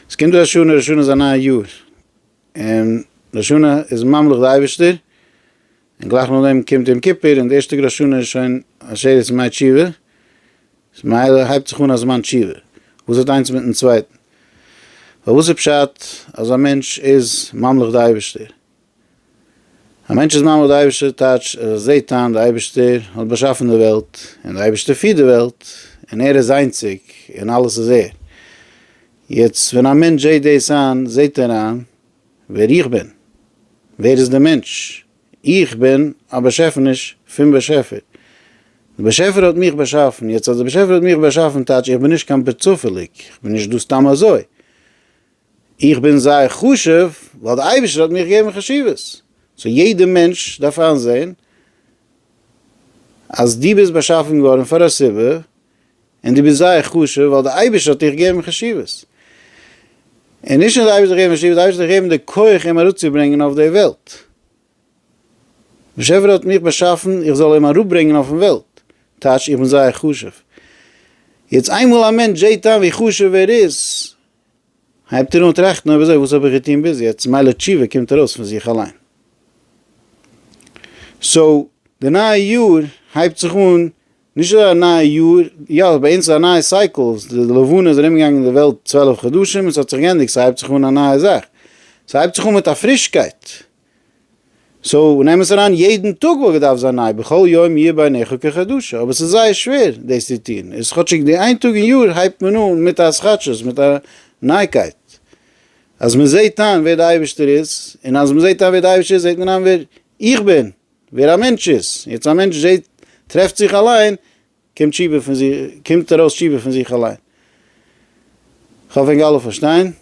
עס קומט ראש השנה, ראש השנה איז א נייע יאר, און ראש השנה איז ממליך די אייבערשטער, און גלייך נאך דעם קומט יום כיפור, און די ערשטע טאג ראש השנה איז שוין עשרת ימי תשובה, ממילא הייבט זיך אן א זמן תשובה, וואס האט איינס מיטן צווייטן? פארוואס איז פשט אז א מענטש איז ממליך די אייבערשטער? א מענטש איז מאמין אויף די אייבישטער טייטש ער זעהט איין די אייבישטער האט באשאפן די וועלט און די אייבישטער פירט די וועלט און ער איז איינציג און אלעס איז ער. יעצט ווען א מענטש זעהט דאס איין זעהט ער איין ווער איך בין. ווער איז די מענטש? איך בין א באשעפעניש פון באשעפער. די באשעפער האט מיך באשאפן יעצט אז די באשעפער האט מיך באשאפן טייטש איך בין נישט קיין פרצופעליג איך בין נישט דא סתם אזוי. איך בין זייער חשוב ווייל די אייבערשטער האט מיר געגעבן חשיבות, סאו יעדע מענטש דארף איינזעהן אז דו ביסט באשאפן געווארן פאר א סיבה, און דו ביסט זייער חשוב ווייל די אייבערשטער האט דיך געגעבן חשיבות, און נישט נאר די אייבערשטער האט דיך געגעבן חשיבות, די אייבערשטער האט דיך געגעבן די כח אים אראפצוברענגען אויף די וועלט, באשעפער האט מיך באשאפן איך זאל אים אראפברענגען אויפן וועלט, טייטש איך בין זייער חשוב, יעצט איינמאל א מענטש זעהט איין ווי חשוב ער איז, הייבט ער אן טראכטן אויב אזוי וואס האב איך געטון ביז יעצט, מילא תשובה קומט ארויס פון זיך אליין. סאו די נייע יאר הייבט זיך אן, נישט אזוי א נייע יאר, יא ביי אונז איז א נייע סייקל, די לבנה איז ארום געגאנגען די וועלט צוועלף חדשים און ס'האט זיך גענדיגט, ס'הייבט זיך אן א נייע זאך, ס'הייבט זיך אן מיט א פרישקייט, סאו נעם עס אריין יעדן טאג וואלט געדארפט זיין ניי בכל יום יהיה בעיניך כחדשה אבער ס'איז זייער שווער דאס צו טון איז כאטשיג די איין טאג אין יאר הייבט מען אן מיט א התחדשות מיט א נייגקייט אז מען זעהט איין ווער די אייבערשטער איז און אז מען זעהט איין ווער די אייבערשטער איז זעהט מען איין ווער איך בין ווער א מענטש איז יעצט א מענטש זעהט טרעפט זיך אליין קומט תשובה פון זיך קומט ארויס תשובה פון זיך אליין כ'האף ענק אלע פארשטיין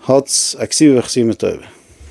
האטס א כסיבה וכסימה טובה.